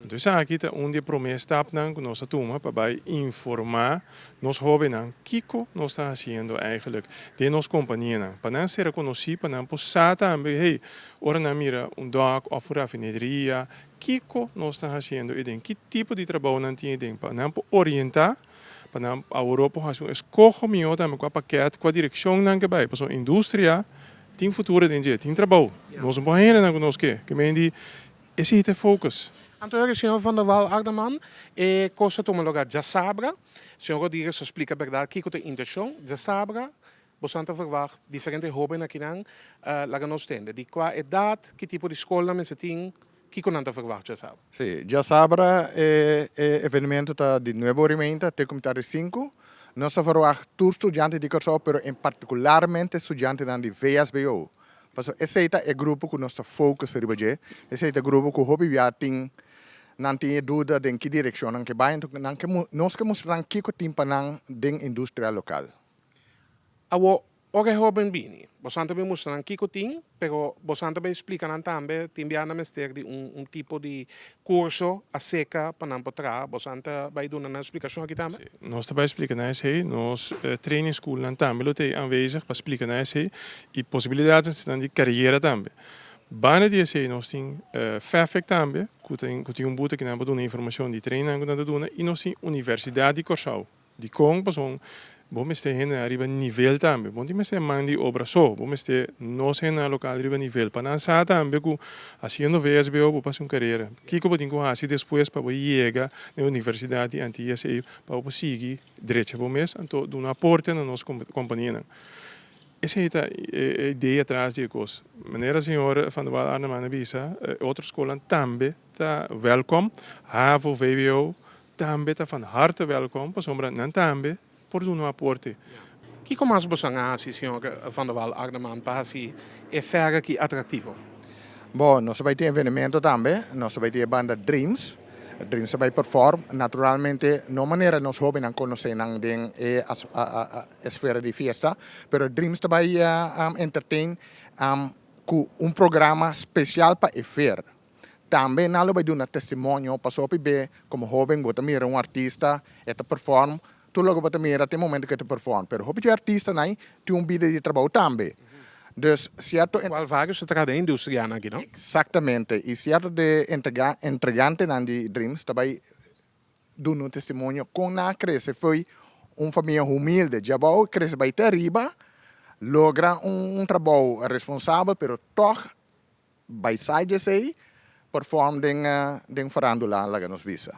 Entonces aki ta un di e promé estapnan cu nos ta tuma pa bay informa nos hobennan kico nos ta haciendo eigenlijk den nos companianan pa nan ser conoci, pa nan por sa tambe hey, ora nan mira un dock of un rafineria kico nos ta haciendo eden, ki tipo di trabao nan tin eden pa nan por orienta, pa nan awor por haci un escoho miho tambe cua paket, cua direccion nan ke bay, pasobra industria tin futuro den dje, tin trabao, nos no por hende nan cu nos ke, ke meen di. E si hita e focus. Anto ora e señor Van der Wal Ardaman e cos ta tuma loga djasabra señor Rodriguez lo splica berdad kico ta intencion djasabra bosonan ta verwacht diferente hoben akinan laga nos tende di cua edad ki tipo di scolnan mester tin kico nan ta verwacht djasabra. Si, djasabra e evenemento ta di nueve ora y meinta te como ta di cinco nos ta verwacht tur studiante di Curaçao pero en particularmente studiantenan di VSBO Pasobra esei ta e grupo ku nos ta focus riba dje. Esei ta e grupo ku hopi bia tin, nan tin e duda den ki direkshon nan ke bai. Anto nan ke, nos ke mustra nan kiko tin pa nan den industria lokal. Awo, ora e hoben bini, bosan ta bin mustra nan kiko tin, pero bosan ta bin eksplika nan tambe, tin bia nan mester di un tipo di Curso acerca pa nan por traha. Bosan ta bay duna nan explicacion aki tambe? Si, nos ta bay explica nan esey. Nos training school nan tambe lo ta ey aanwezig pa explica nan esey y posibilidadnan di carriera tambe. Banda di esey nos tin FEFEC tambe cu tin un buta cu nan por duna informacion di training nan cu nan ta duna y nos tin Universidad di Corsou. Dikon? Pasobra bo mester henda riba nivel tambe. Bo no tin mester man di obra so. Bo mester nos henda lokal riba nivel pa nan sa tambe ku hasiendo VSBO bo pasa un karera. Kiko bo tin ku hasi despues pa bo yega na e universidat di Antillas ei pa bo por sigui drecha bo mes anto duna aporte na nos kompanianan? Esei ta e idea atras di e kos. Manera señor Vandewalle Arnaman a bisa, e otro skolnan tambe ta wèlkòm, havo, vwo, Tambe ta van harte welkom pasobra nan tambe por duna un aporte. Kiko mas bo san a hasi señor Van der Wal Agneman pa hasi e fèr aki atraktivo? Bo, nos ta bai tin evenemento tambe. Nos ta bai tin e banda Dreams. Dreams ta bai perform. Naturalmente no manera nos hóbennan konosé nan den e esfera di fiesta, pero Dreams ta bai entertain ku un programa spesial pa e fèr. Tambe nan lo bai duna testimonio pasobra p'e komo hóben bo ta mira un artista e ta perfòm, tur loke bo ta mira tin momento ku e ta perfòm, pero hopi di artistanan tin un bida di trabou tambe. Dus sierto. Kual vage su traha den e industrianan aki, no? Eksaktamente, i sierto di e entrega entregantenan di Dreams ta bai duna un testimonio kon nan a krese fo'i un famia humilde diabou krese bai te ariba, logra un trabou responsabel pero tòg By Sages ei perform den Farandula laga nos bisa.